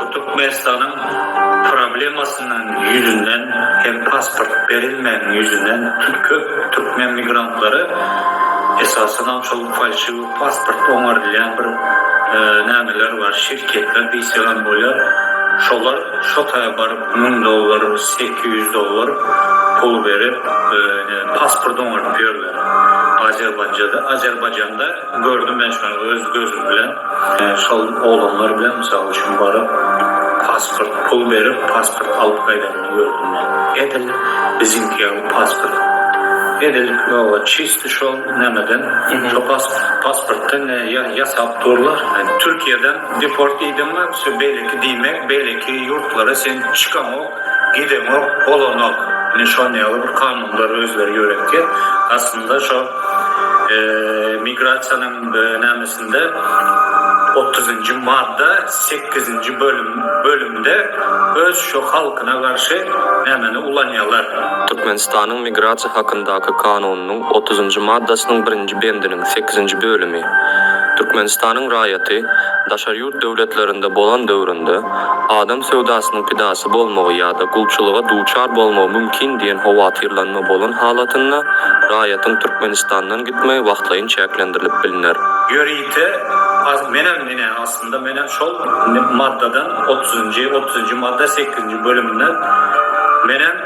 Bu Türkmenistanyň problemasynyň ýüzünden hem pasport berilmegiň ýüzünden köp türkmen migrantlary esasanam şol falşiwi pasport oňarylýan bir nämeler bar şirketler diýsek hem bolýar şolar şo taýa baryp müň dollar sekiz ýüz dollar pul berip pasport oňaryp ýörler Azerbaýjanda Gördüm men şony öz gözüm bilen. Şol oglanlar bilen mysal üçin baryp pasport pul berip pasport alyp gaýdanyny gördüm men. Edil biziňki ýaly pasport. Edil ýoga çyst şol nämeden şo pasportdan ýasap durlar. Türkiýeden deport iýdiňmi beýleki diýmek beýleki ýurtlara sen çykaňok. Gideňok, bolanok. Ine şon ýaly bir kanunlar özleri ýöretýär. Aslynda şo migrasiýanyň nämesinde otuzynjy madda sekizinji bölüm bölümde öz şo halkyna garşy nämeni ulanýalar. Türkmenistanyň migrasiýa hakyndaky kanunynyň otuzynjy maddasynyň birinji bendiniň sekizinji bölümi Türkmenistanyň raýaty daşary döwletlerinde bolan döwründe adam söwdasynyň pidasy bolmagy ýa-da gulçulyga duçar bolmagy mümkin diýen howatyrlanma bolan halatynda raýatyň Türkmenistandan gitmegi wagtlaýyn çäklendirilip bilner. Ýörite as menem ine aslynda menem şol maddadan otuzynjy otuzynjy madda sekizinji bölümden menem